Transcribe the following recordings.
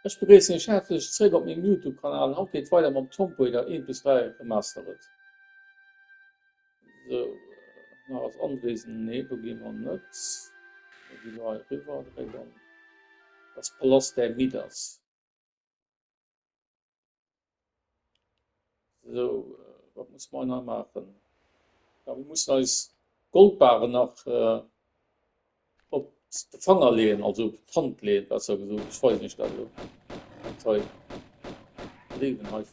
Ech begréissen iech häerzlech zréck op mengem Youtube Kanal. Haut geet et weider mam Tompo Raider 1 bis 3 remastered. Sou nach als Anwesen, nee do gi mer net, mir gi lo hei riwwer, dréck an dass Palast däi Midas. So, wat muss mer nach maachen? Ja, mir mussen eis Goldbare nach äh, op de Fanger leen, also op d'Hand leen, besser gesot. Ich weiß nicht, also. Toll. Leben halt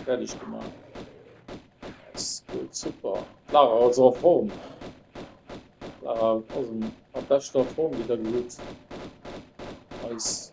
fertig gemacht. Das ist gut, super. Lara aus der Form. Lara aus dem, am besten Form wieder gut. Als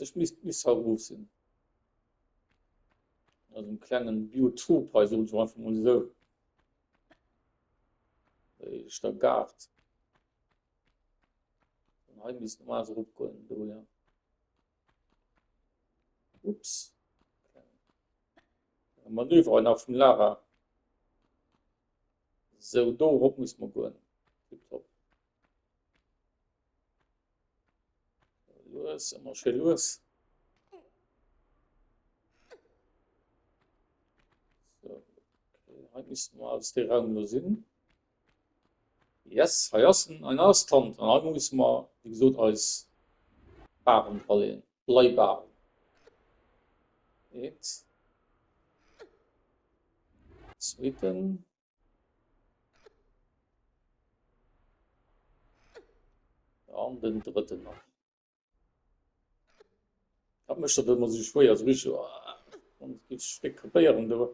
Ech misst bis hei erof sinn. Also en klengen Biotop hei so so einfach mal so. Ech der Gart. Und hei misst normal so rupgoen do ja. Ups. Manöver nach vum Lara. So do op muss man goen. Tipptopp. Lues, ëmmer schéi lues. So, okay. Hei misst man als de Raum lo sinn. Yes, hei ass en, ein ass Tand. An hei muss man, wie gesot, eis Baren verleen. Bleibaren. Eins. Zweiten. An den drëtten nach. Dat mécht dat ëmmer sou schwéier, sou rich an et geet Stéck krepéieren do.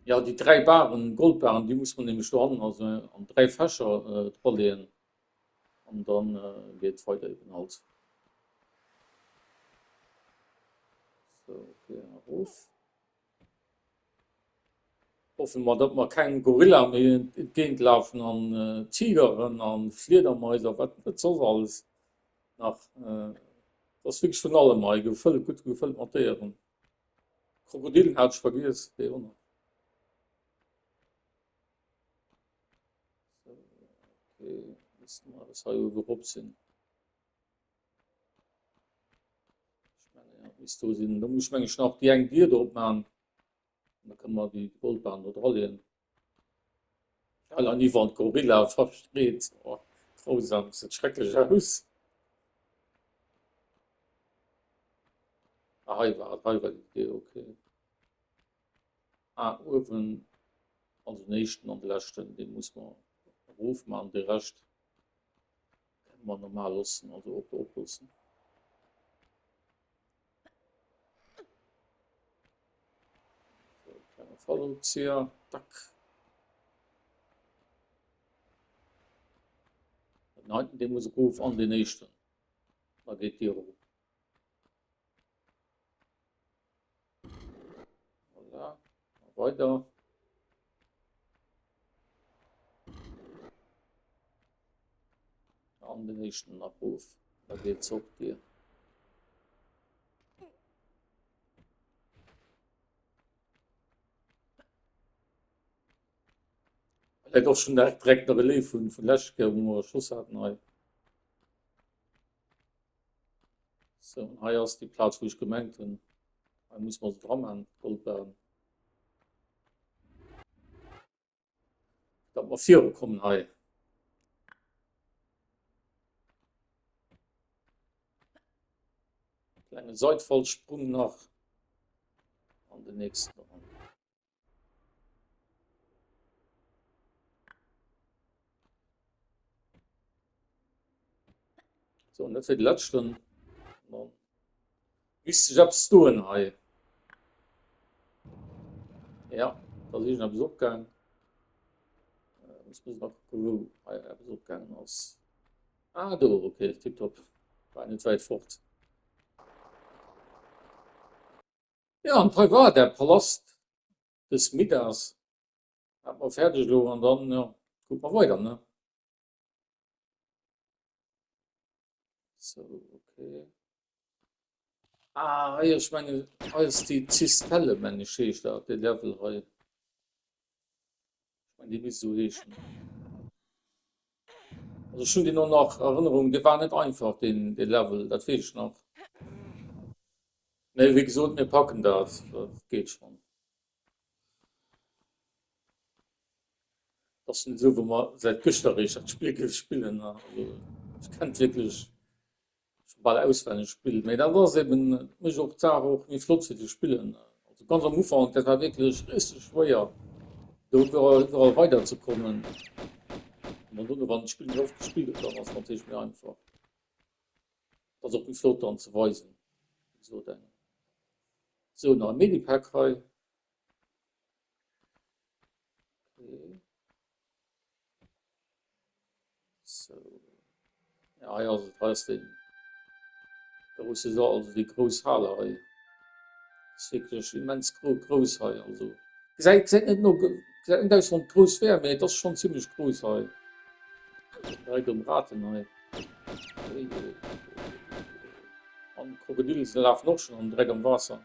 Ja, déi dräi Baren, Goldbaren, déi muss mer nämlech do hannen also an dräi Fächer draleeën an da geet et weider eben halt. Sou, fir erof. Hoffe mer datt mer keng Gorilla méi entgéint lafen an Tigeren an Fliedermais a wat net soss alles nach. Et ass wierklech vun allem hei gefëllt, gutt gefëllt mat Déieren. Krokodillen hat ech vergiess, déi och nach. Sou, ok, musse mer eppes hei uewe rop sinn. Ich meine, ja, bis du sinn, da muss ich meng nach die eng Dir drop machen. Da können wir die Goldbahn da dran legen. Weil an die Wand Gorilla versteht. Oh, grausam, sieht schrecklich aus. Ah, hei war, hei war die Idee, okay. Ah, oben, also den ersten und den letzten, den muss man ruf machen, den Rest. Kann man normal lossen also op op lossen. Fallzieher, tack. Nein, den muss ich auf an den nächsten. Da geht die hoch. Voilà. Weiter. An den nächsten Abruf. Da geht es hoch dir. Et ass schon direkt der Relais vun vun Läschke, wo mer Schoss haten hei. So, hei ass déi Plaz, wou ech gemengt hunn, hei muss mer se dra maachen, d'Goldbarren. Dat mer viru kommen hei. Klengen Seitfallsprung nach an den nächsten. So, net fir de letzten Wis sech ab stoen hei. Ja, da si ab opgang. opgang ass. Ah do okay, tipptopp. War net wäit fort. Jo, an hei war der Palast des Midas, hat mer färdeg elo an dann jo kucke mer weider ne. Sou ok ah hei ech mengen hei ass déi Zistelle mengen ech heescht dat dee Level hei. Ech mengen, dee misst esou heeschen. Also ech hunn deen och nach Erënnerung, dee war net einfach, deen Level, dat weess ech nach. Mee wéi gesot, mir packen dat, dat geet schonn. Et ass net esou, wou mer säit gëschter eréischt dat Spill gespillen hunn. Also ech kennt wierklech. Scho bal auswenneg spillt, mee dat ass eben mech och d'Saach och wéi flott se déi spillen. Also ganz am Ufank, dat war wierklech risseg schwéier do iwwerall weider ze kommen. An dann dono wann een d'Spill méi oft gespillt huet, dann ass et natierlech méi einfach. Ass och méi flott dann ze weisen, wéi gesot engem. Sou, nach e Medipack hei. So. Ja, ja, also da ist den. Da muss ich sagen, also die große Halle hei. Ist wirklich immens gro groß hei, also. Seid, seid nicht nur, seid nicht aus von groß wär, aber das ist schon ziemlich groß hei. Bei dem Raten hei. Am Krokodil ist der Laf noch schon am Dreck am Wasser.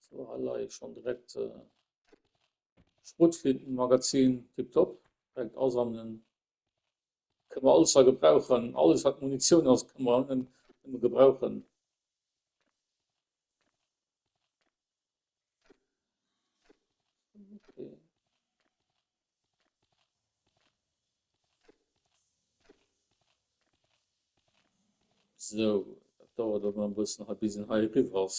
So, ha leie schon direkt äh, Schrotflintenmagazin, tipptopp, direkt asammeln. Können wir alles da gebrauchen, alles was Munition ist, können wir, können wir gebrauchen. So, dat dauert awer e bëssen hei bis en hei eriwwer ass.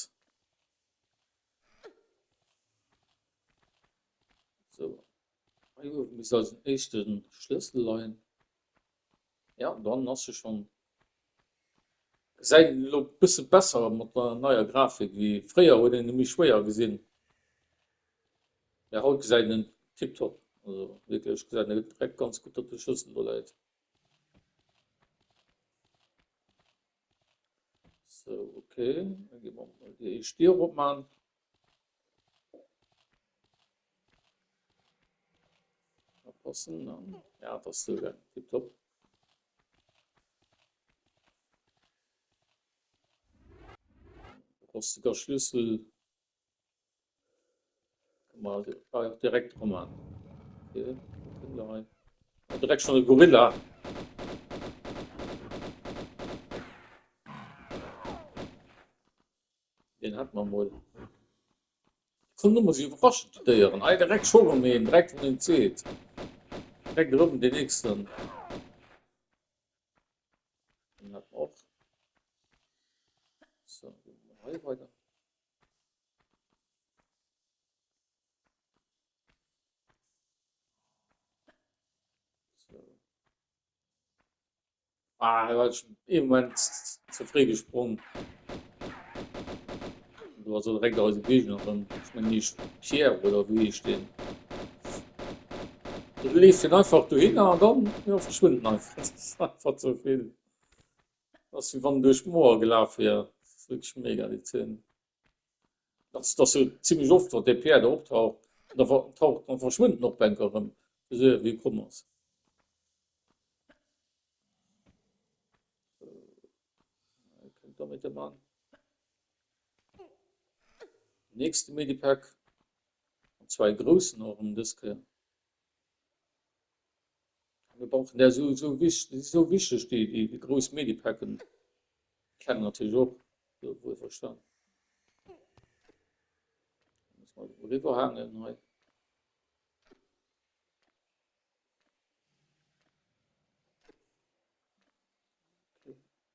So. Hei oben misst also den éischten Schlëssel leien. Jo dann ass se schon. Gesäit elo bësse besser mat der neier Grafik wéi fréier, huet een e méi schwéier gesinn, mee haut gesäit en tiptop, also wierklech gesäit en direkt ganz gutt datt de Schlëssel do läit. So, okay, da gi mer mol déi éischt Dier opman. Passen an ja, dat ass souguer tiptop. Rostiger Schlüssel. Mal direkt rum an. Okay. Direkt schon Gorilla. Den hat man wohl. Komm du muss überraschen die Dieren. Ei direkt schon um den direkt von den Zet. Direkt rum den nächsten. Den hat auch. So, weiter. Ah, da war ich im Moment zu früh gesprungen. Du hast direkt aus dem Gegner drin. Ich meine nicht Pierre oder wie ich den. Du lässt ihn einfach dahin und dann ja, verschwindet einfach. Das ist einfach zu viel. Ass wéi wann en duerch d'Moer gelaf wier. Ass wierklech mega déi Zeen. Ass ass jo zimlech oft wat dee Pierre do optaucht an da taucht an verschwënnt en och enker erëm esou ewéi e komm ass. Hei kënnt da méi de Mann. Nächste Medipack an zwar e groussen och erëm dës Kéier. Mir brauchen där esou esou wich déi si esou wichteg déi déi déi grouss Medipacken kennen natierlech och jo wuel verstan. Muss mer elo eriwwer haangen hei.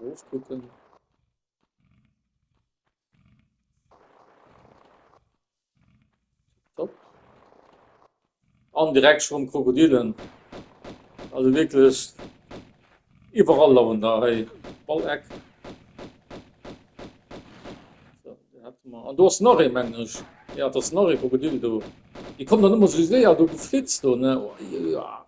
Roof kucken. Top. An direkt schon Krokodilen. Also wirklich überall laufen da hey. Ball Eck. So, an du hast nach e Mensch. Ja, das nach e Krokodil du. Die kommen dann immer so sehr du geflitzt du ne. Oh, ja.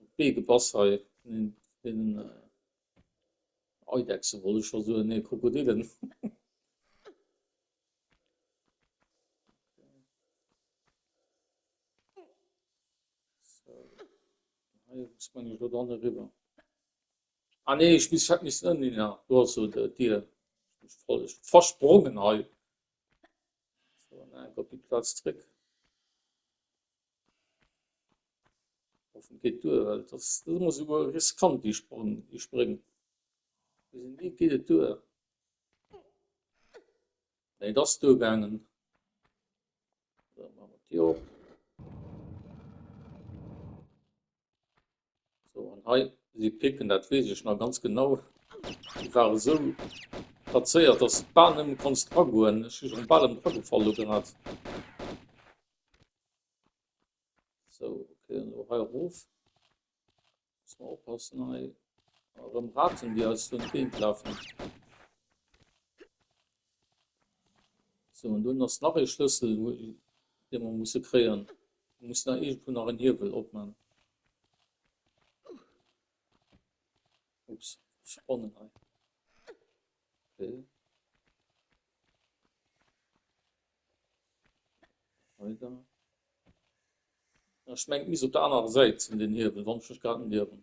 op d'Bee gepass hei, den Eidechse wollt ech scho soen, nee Krokodillen. Ah nee ech misst, hätt missen ënnen hin, do ass se et, d'Dier, ech wollt ech versprongen hei, ech goen nach eng Kéier op déi Plaz zréck. Hoffen geet duer well dass ass emmer esou riskant déi Spréng. Wéi geet et duer? Nee et ass duer gaangen. So, an hei si Picken, dat wees ech nach ganz genau. Déi ware sou plazéiert, dass du bal nëmme konntst agoen. Ech si schon bal emol agefall do grad. So, okay, an hei erof. Muss man oppassen hei. Erëm Raten, déi eis do entgéint lafen. Sou, an dunn ass nach ee Schlëssel dee mer musse kréien. Mir mussen nach iergendwou nach en Hiewel opman. Ups, Sponnen hei. Okay. Weider. Ech mengt mis op der anerer Säit sinn den Hiewel, wann ech mech grad net ierwen.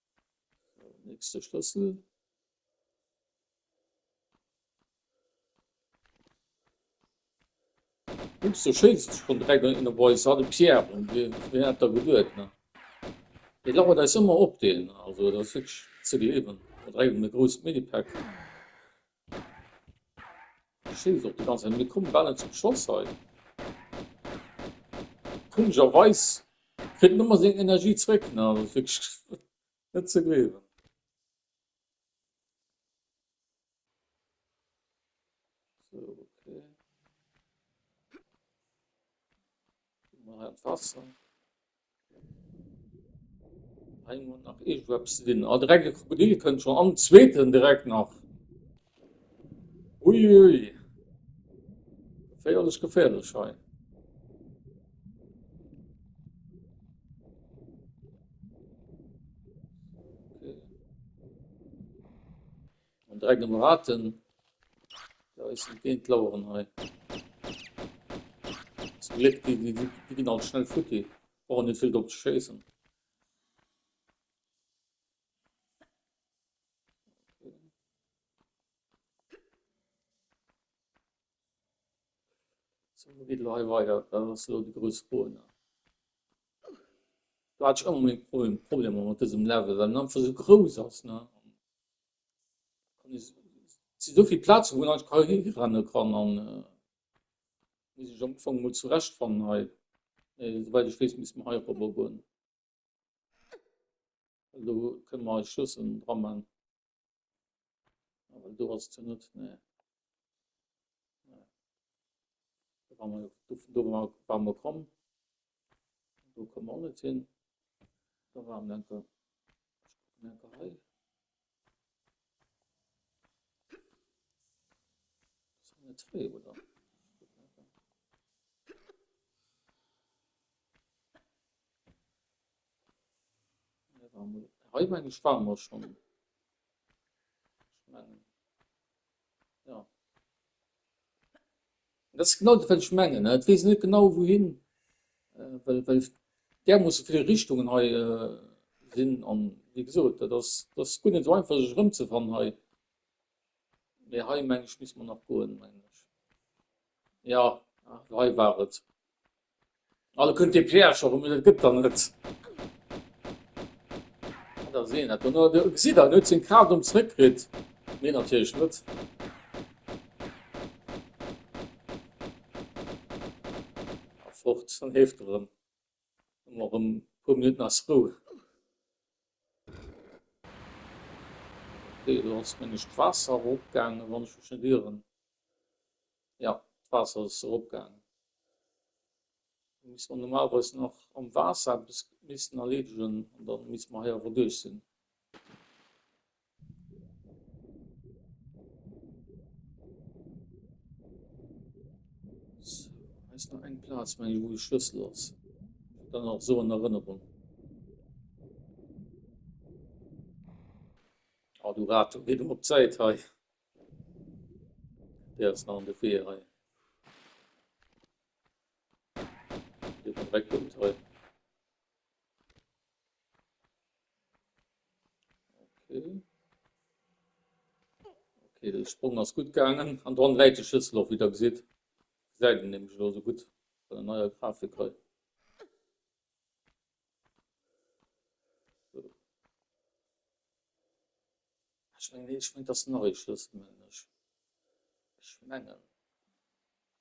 Nächste Schlëssel. Ups, du schëlz dich schon direkt an der Boys, war de Pierre, und wir, wir hat da geduert, ne? Der lauert eis immer op, den, also, das ist wirklich zu gleewen, direkt an der großen Medipack. Verstinn ech och déi ganz net. Mir komme bal net zum Schoss hei. Komescherweis kritt en ëmmer seng Energie zréck ne, also ass wierklech net ze gleewen. Sou ok, hu mer hei d'Waasser. Hei muss nach iergendwou eppes sinn. Ah, direkt e Krokodil kënnt schon. Am zweeten direkt nach. Ui, ui. Geféierlech, geféierlech hei. An dräi gëtt mer Raten. Da is se géint d'Laueren hei. Zum Gléck, déi, déi, déi ginn alt schnell futti. Brauchen net vill drop ze schéissen. Sou, wou geet elo hei weider? Wat ass elo déi grouss Fro nach? Do hat ech ëmmer meng Fro, Problemer mat dësem Level, well en einfach esou grouss ass, ne? Et si esou vill Plazen, wou een einfach hei hirenne kann an muss sech am Ufank emol zurechtfannen hei. Mee souwäit ech weess, misst mer hei erobber goen. Elo kënne mer hei Schluss dra man. Aber du hast zu net ne Bammer kom Du kom an net sinn Da war am Lenker Lenker hei. Zwei, oder? Hei meng ech waren mer schon. Dat ass genau dat wat ech mengen. Et weess net genau wouhin well well därmoosse vill Richtungen hei sinn an wéi gesot dat ass dat ass guer net esou einfach sech erëmzefannen hei. Mee hei meng ech misst mer nach goen meng ech. Jo hei war et. Alle kënnt dee Piège erëm, dat gëtt der net. Ah, da sinn dat no. Du gesitt der, en huet seng Kraaft erëm zréckkritt. Nee, natierlech net. A fort, dann leeft erëm. Hu mer erëm e puer Minutten eis Rou. Okay, do ass, meng ech, d'Waasser erop gaangen, wann ech mech net ieren. Jo, d'Waasser ass eropgaangen. Elo misste mer normalerweis nach am Waasser eppes missten erleedegen an da misste mer hei awer duerch sinn. Sou, hei ass nach eng Plaz, meng ech, wou de Schlëssel ass. Dann nach esou an Erënnerung. Ah, du Rato, gee do op d'Säit hei. Déi ass nach an de Wee hei. Déi vum Réck kënnt hei. Okay. Okay, de Sprung ass gutt gaangen. An dran läit de Schlëssel och, wéi der gesitt. Gesäit een nämlech elo esou gutt, wann en neier Grafik hei. Ech mengen ech mengen dass nach ee schlësst mengen ech ech mengen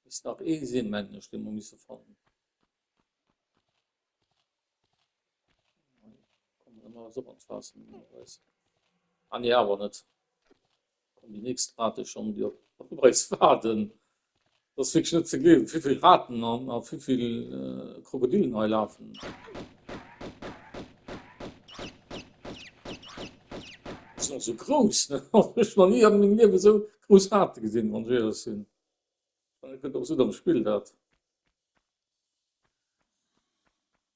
misst nach ee sinn mengen ech dee mer misse fannen an nee awer net. An déi nächst Rate schonn, déi op eis waarden. Et ass wierklech net ze gleewen, wéi vill Raten a wéi vill Krokodillen hei lafen. Déi sinn och esou grouss, ne? Ech hu nach ni a mengem Liewen esou grouss Rate gesinn, wann ech éierlech sinn. Ech mengen, et gëtt och esou dann gespillt, dat.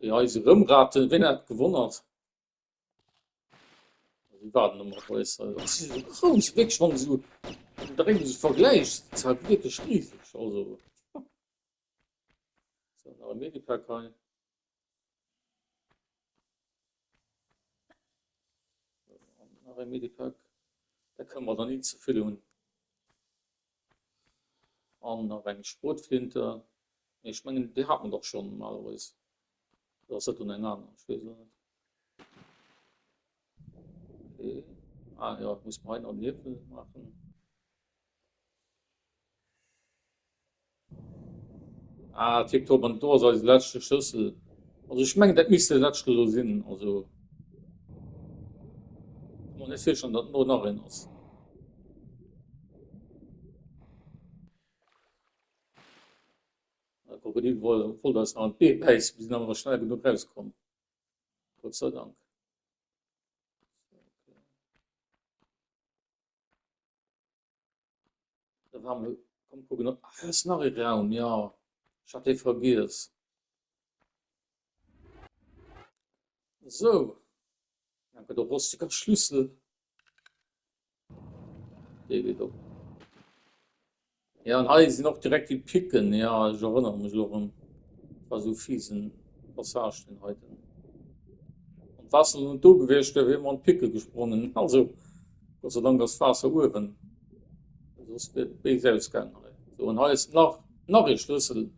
Ja, eise Rëmraten, wien hätt gewonnert? Déi waren nëmme grouss. Si si esou grouss, wierklech, wann de se mateneen esou vergläichs, si se halt wierklech riseg. Also, se hunn nach e Medipack hei. Nach e Medipack. Da kënne mer der ni ze vill hunn. An nach eng Sprotflinte. Mee ech mengen, déi hat mer dach schonn normalerweis. Oder ass dat dann eng aner? Ech weess et net. Okay. Ah jo, et muss mer hei nach en Niewel maachen. Ah tip top, an do ass eise leschte Schëssel, also ech mengen dat misst de leschten elo sinn, also kommen net virstellen dat do nach een ass. De Krokodil wollt eis nach an d'Bee bäissen, mir sinn awer nach schnell genuch raus komm, Gott sei Dank. Da war mal, komm gucken, ob ah, ist nach ein Raum, ja. Ich hatte vergiss. So. Dann kommt der rostiger Schlüssel. Der geht auf. Jo an hei sin och direkt déi Picken, jo ech erënneren mech elo erëm, et war esou fiesen Passage deen heiten, wann d'Waasser elo net do gewiescht wier, wier mer an d'Picken gesprongen, also Gott sei Dank ass d'Waasser uewen, soss wier et béis ausgaangen hei, sou an hei ass nach nach ee Schlëssel an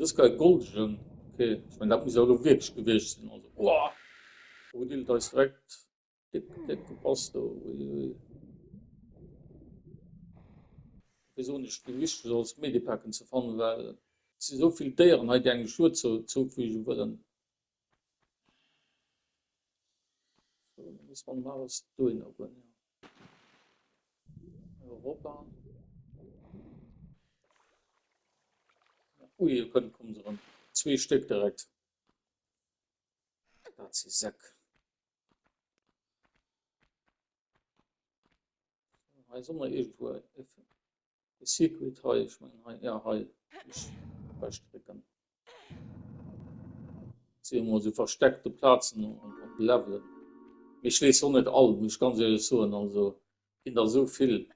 dës Keier goldegen, ok, ech mengen dat muss awer elo wierklech gewiescht sin, also ohh, do huet Illes eis direkt. Gëtt gepasst do, uiuiui. Wéi soen ech, wéi wichteg et ass Medipacken ze fannen, well et si sou vill Déieren hei, déi engem Schued zoufüge wëllen. Sou, da musse mer dem Alex dohinner goen, jo. Europa. Ui, e Pënd komm se erëm. Zwee Stéck direkt. Dat si Säck. Hei soll man irgendwo e Secret hei, ich mein hei, ja hei, ich verstecken. Sehen wir so versteckte Platzen und Level. Ich lese so nicht all, muss ich ganz ehrlich sagen, also in da so viel.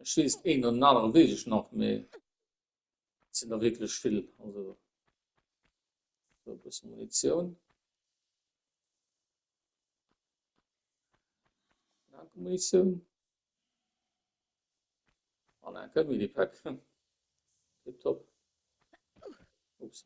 Ech wees den een oder den aneren wees ech nach mee et sinn der wierklech vill also e bësse Munitioun. Danke Munitioun. An en kënnt mir déi Pack. Tip top. Ups.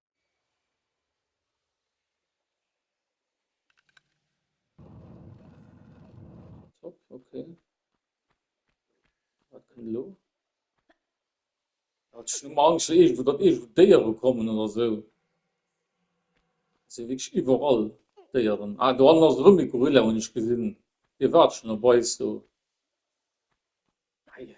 Top, okay. Wat kënnt elo? Hat ech ëmmer Angst, datt iergendwou, datt iergendwou Déiere kommen oder esou. Si wierklech iwwerall, d'Déieren. Ah, do hannen ass erëm e Gorilla, hunn ech gesinn. Dee waart schonn op eis do. Eieiei.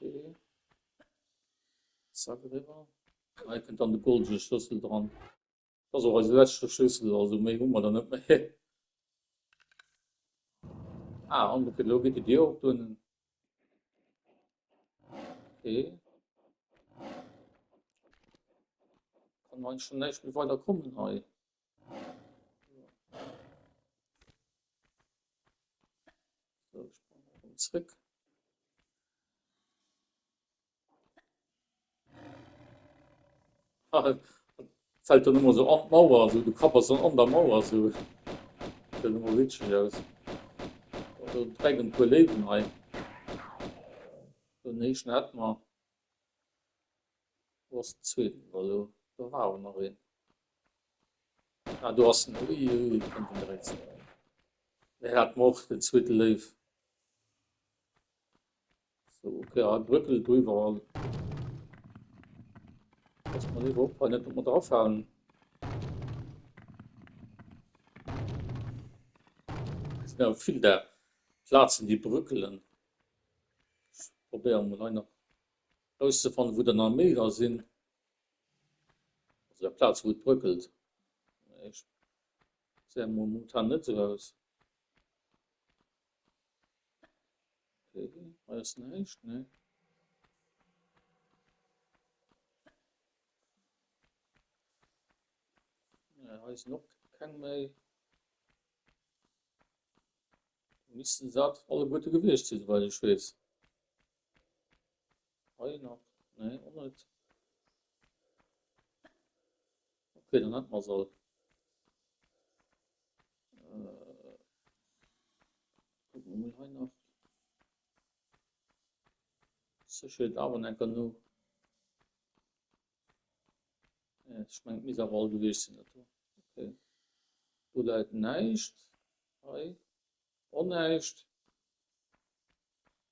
Okay. Zack rüber. Hei kënnt dann de goldene Schlüssel dran. Das ist auch eise letzte Schlüssel, also méi hu mer da net méi. Ah, an okay, lo geht die Dir op doen. Okay. Kann man schon näicht méi weiter kommen hei. zréck. Ah, fällt dann immer so an die Mauer, also du kapperst dann an der Mauer so. Sieht immer witzig aus. Also direkt ein paar Leben hei. Den nächsten hat man. Was zweiten, also da war auch noch ein. Ah do ass en, ui ui ui, do kënnt en direkt ze no. Hei hate mer och den zweete Léiw. So, ok, hei brëckelt et iwwerall. Pass mol liewer op hei net op mer drafalen. Et sinn awer vill där Plazen, déi brëckelen. Ech probéieren mol hei nach erauszefannen, wou der nach méi dra sinn. Also der Plaz wou et bröckelt. Ech seh emol momentan net sou aus. Okay, hei ass näischt, nee. Ja, hei sinn och keng méi. Missten se alleguerte gewiescht sinn, soweit ech weess. Hei nach? Nee, och net. Okay, dann hätte mer se all. Äh, gucken wir mal hei nach. Sicherheit aber nicht genug. Ja, ich meine, mis aber all gewesen sind. Okay. Du leid nicht. Hei. Auch nicht.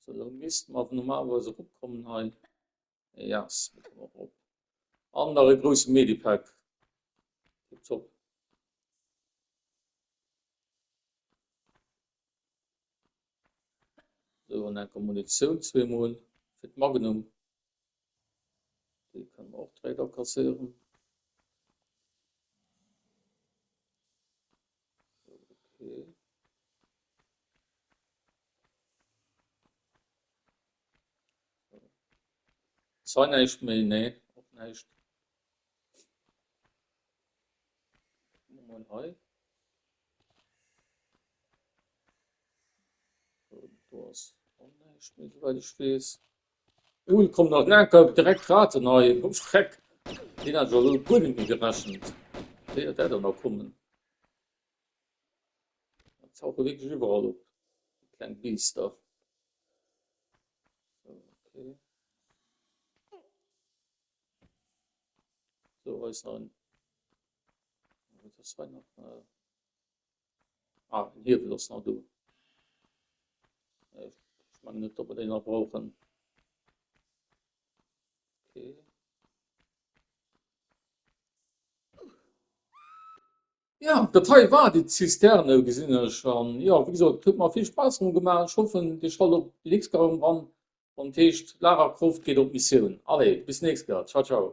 So, lo missten mer normalerweis eropkommen hei. Yes, mir kommen erop. An nach e grouse Medipack. Tipptopp. So, an enker Munitioun zweemol fir d'Magnum. Déi kënnen mer och direkt akasséieren. Okay. Zwar näischt méi, nee, och näischt. Hei. Do ass och näischt méi, soweit ech weess. Cool, kommen nach laker direkt Kraten hei, oh Schreck, deen hat ech elo guer net méi gerechent, wéi dat der dann nach kommen, dat tauche wierklech iwwerall op, déi kleng Biester, sou ok, do ass nach en, wat ass hei nach. Ah, den Hiewel ass nach do. Ech mengen net, datt mer deen nach brauchen. Okay. Ja, dat hei war déi Zisterne, gesinn ech. An jo, wéi gesot, et huet mer vill Spaass erëm gemaach. Ech hoffen, Dir schallt och déi nächst Kéier erëm eran, wann et heescht, Lara Croft geet op Missioun. Allez, bis nächst Kéier. Ciao, ciao.